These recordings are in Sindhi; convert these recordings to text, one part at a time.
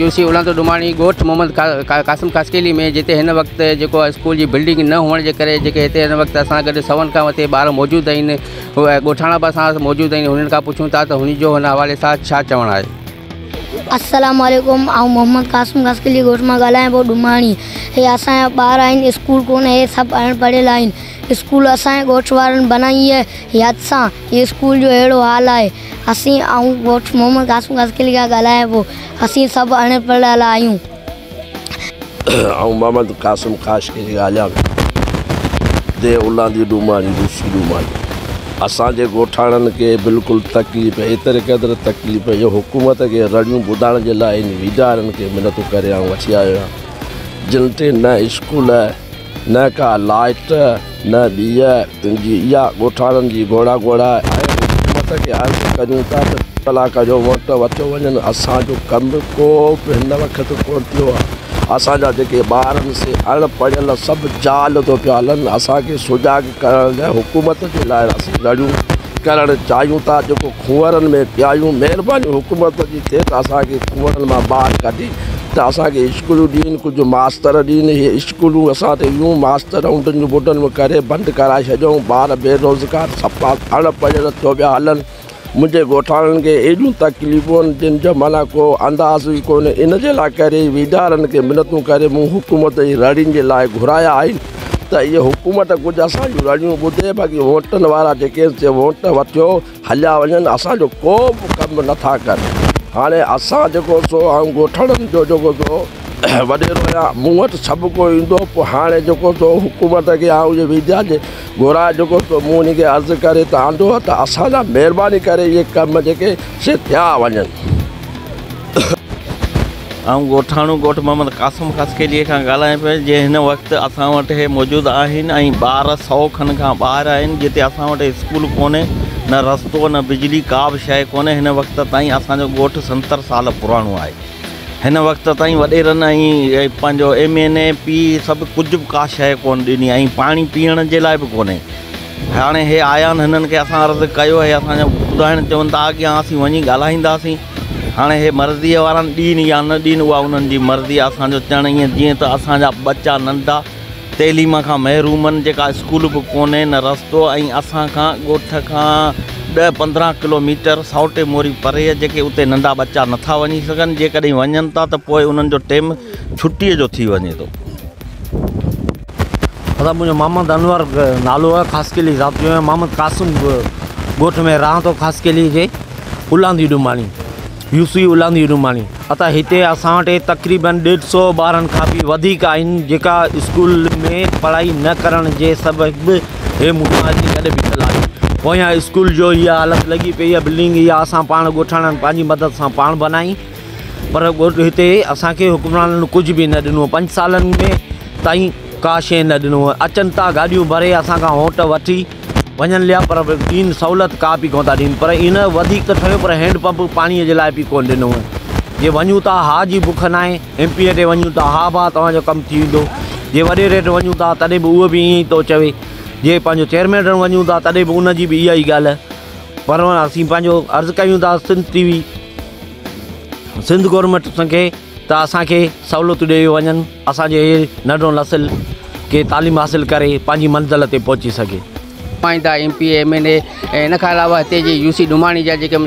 يونسي اولانتو ڊوماڻي ڳوٺ محمد قاسم خاصخيلي ۾ جتي هن وقت جيڪو اسڪول جي بلڊنگ نه هئڻ جي ڪري جيڪي هتي هن وقت اسان گڏ سون کان مٿي ٻار موجود آهن هو ڳوٺاڻا به اسان سان موجود آهن هنن کان پڇون ٿا ته هن جو هن حوالي سان ڇا چوڻ آهي السلام عليڪم آئون محمد قاسم خاصخيلي ڳوٺ مان ڳالهايان پيو ڊوماڻي هي اسان جا ٻار آهن اسڪول ڪونه هي سڀ اڻ پڙهيل آهن اسڪول اسان جي ڳوٺ وارن بنائي هئي يد سان هي اسڪول جو اهڙو حال آهي اسين آئون ڳوٺ محمد قاسم قاسقلي کان ڳالهايان پيو اسين سڀ اڻ پڙهيل آهيون. آئون محمد قاسم قاشقلي ڳالهيان پيو ديهه الاندي ڊوماڻي روسي ڊوماڻي اسان جي ڳوٺاڻن کي بلڪل تڪليف ايتري قدر تڪليف جو حڪومت کي رڙيون ٻڌائڻ جي لاء هن ويڄارن کي منتون ڪري آئون وٺي آيو آهيان جن تي نه اسڪول نه ڪا لائٽ نه ڏيئي تنهنجي اها ڳوٺاڻن جي گهوڙا گهوڙا آهي حڪومت کي عرض ڪريون ٿا ته ڪلاڪ جو ووٽ وٺيو وڃن اسان جو ڪم به ڪو به هن وقت ڪونه ٿيو آهي اسان جا جيڪي ٻار آهن سي اڻ پڙهيل سڀ جال ٿو پيا هلن اسان کي سجاڳ ڪرڻ لاء حڪومت جي لاء اسين لڙيون ڪرڻ چاهيون ٿا جيڪو کوهرن ۾ پيايون مهرباني حڪومت جي ٿئي ته اسان کي کوهن مان ٻاهر ڪڍي ته اسان کي اسڪولون ڏين ڪجهه ماستر ڏين اهي اسڪولون اسان تي ويون ماستر انڊن جون بڊن ۾ ڪري بند ڪرائي ڇڏيون ٻار بيروزگار سڦا اڻ پڙهيل ٿيو ويا هلن منهنجي ڳوٺاڻن کي ايڏيون تڪليفون جن جو معنيٰ ڪو انداز ئي ڪونهي. ان جي لاء ڪري ئي ويڄارن کي منتون ڪري مون حڪومت جي رڙين جي لاء گهرايا آهن ته اهي حڪومت ڪجهه اسان جون رڙيون ٻڌي باقي وونٽن وارا جيڪي سي وونٽ وٺيو هليا وڃن اسان جو ڪو به ڪم نٿا ڪن. هاڻي اسان جيڪو سو آئون ڳوٺاڻن جو جيڪو سو وڏيرو آهيان مون وٽ سڀڪو ايندو پوء هاڻي جيڪو سو حڪومت کي آئون جي ويڄارن جي گهران جيڪو ٿو مون انهن کي عرض ڪري ته آندو آهي ته اسان جا مهرباني ڪري اهي ڪم جيڪي سي ٿيا وڃن. آئون ڳوٺاڻو ڳوٺ محمد قاسم خاصخيليء کان ڳالهايان پيو جي هن وقت اسان وٽ هي موجود آهن ۽ ٻار سئو کن کان ٻاهر آهن جتي اسان وٽ اسڪول ڪونهي نه رستو نه بجلي ڪابه شيء ڪونهي هن وقت تائين اسان جو ڳوٺ ستر سال پراڻو آهي. هن وقت تائين وڏيرن ۽ پنهنجو ايم اين اي پي سڀ ڪجهه به ڪا شيء ڪونه ڏني ۽ پاڻي پيئڻ جي لاء به ڪونهي. هاڻي هي آيا آهن هنن کي اسان عرض ڪيو هي اسان جا ٻڌائڻ چون ٿا اڳيان اسين وڃي ڳالهائينداسين هاڻي هي مرضيء وارا ڏين يا نه ڏين اها انهن جي مرضي آهي اسان جو چئڻ ائين جيئن ته اسان جا ٻچا ننڍا تعليم کان محرومن جيڪا اسڪول به ڪونهي نه رستو ۽ اسان کان ڳوٺ کان ڏهه پندرهن ڪلو ميٽر سائوٽي موري پري جيڪي اتي ننڍا ٻچا نٿا وڃي سگهن جيڪڏهن وڃن ٿا ته پوء انهن جو ٽيم ڇٽي جو ٿي وڃي ٿو. اسان منهنجو محمد انور نالو آهي خاصخيلي ذاتيو ۽ محمد قاسم ڳوٺ ۾ رهان ٿو خاصخيلي جي الاندي ڊوماڻي. يوسفي الاندي روماڻي عطا هتي اسان وٽ تقريبن ڏيڍ سئو ٻارن کان به وڌيڪ آهن جيڪا اسڪول ۾ پڙهائي نه ڪرڻ جي سبب هي مون سان اچي گڏ بيٺل آهن پويان اسڪول جو هي حالت لڳي پئي آهي بلڊنگ اها اسان پاڻ ڳوٺاڻن پنهنجي مدد سان پاڻ بنائي پر ڳوٺ هتي اسان کي حڪمرانن ڪجهه به نه ڏنو پنج سالن ۾ تائين ڪا شيء نه ڏنو اچن ٿا گاڏيون ڀري اسان کان هونٽ وٺي وڃن ليا پر ڪين سهولت ڪا به ڪونه ٿا ڏين پر ان وڌيڪ ته ٺهيو پر هينڊ پمپ پاڻي جي لاء به ڪونه ڏنو جي وڃون ٿا ها جي بک ناهي ايم پي اي ڏي وڃون ٿا ها ڀا توهان جو ڪم ٿي ويندو جي وڏي ريٽ وڃون ٿا تڏهن به اهو به ائين ٿو چوي جي پنهنجو چيئرمين ڏيڻ وڃون ٿا تڏهن به ان جي به اها ئي ڳالهه پر اسين پنهنجو عرض ڪيون ٿا Sindh T V Sindh government کي ته اسانکي سهولتون ڏيئي وڃن اسان جو هي ننڍڙو نسل ڪي تعليم حاصل ڪري پنهنجي منزل تي پهچي سگهي. نمائندا، M P A, M N A ۽ ان کان علاوه هتي جي يو سي ڊوماڻي جا جيڪي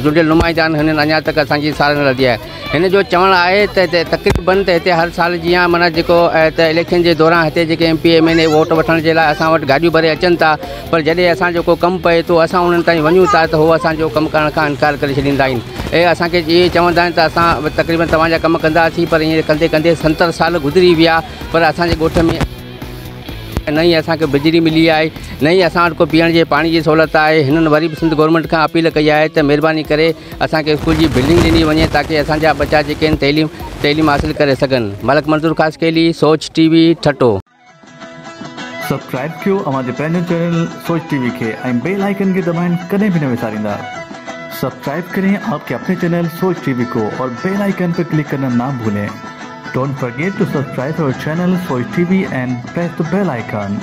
چونڊيل نمائندا آهن هنن اڃا تڪ اسان جي سار نه لڌي آهي. هن جو چوڻ آهي ته هتي تقريبن ته هتي هر سال جيان معنيٰ جيڪو ته اليڪشن جي دوران هتي جيڪي M P M N A vote وٺڻ جي لاء اسان وٽ گاڏيون ڀري اچن ٿا پر جڏهن اسان جو ڪو ڪم پئي ٿو اسان انهن تائين وڃون ٿا ته هو اسان جو ڪم ڪرڻ کان انڪار ڪري ڇڏيندا آهن ۽ اسان کي اهي چوندا آهن ته اسان تقريبن توهان جا ڪم ڪنداسين پر هينئر ڪندي ڪندي ستر سال گذري ويا پر اسان جي ڳوٺ ۾ نه ئي اسان کي بجلي ملي آهي نه ئي اسان وٽ ڪو پيئڻ جي پاڻي جي سهولت آهي هنن وري به سنڌ گورنمينٽ کان اپيل ڪئي آهي ته مهرباني ڪري اسان کي اسڪول جي بلڊنگ ڏني وڃي تاڪي اسان جا ٻچا جيڪي آهن تعليم تعليم حاصل ڪري سگهن ملڪ Manzoor Khaskheli Soch T V Thatta subscribe ڪيو اوهان جي پنهنجو چينل سوچ ٽي وي کي ۽ بيل آئيڪن کي دٻائڻ ڪڏهن به نه وساريندا سبسڪرائب ڪرين آپ ڪي اپني چينل سوچ ٽي وي ڪو اور بيل آئيڪن پي ڪلڪ ڪرنا نا ڀولين ڊونٽ فرگيٽ ٽو سبسڪرائب اور channel Soch T V and press the bell icon.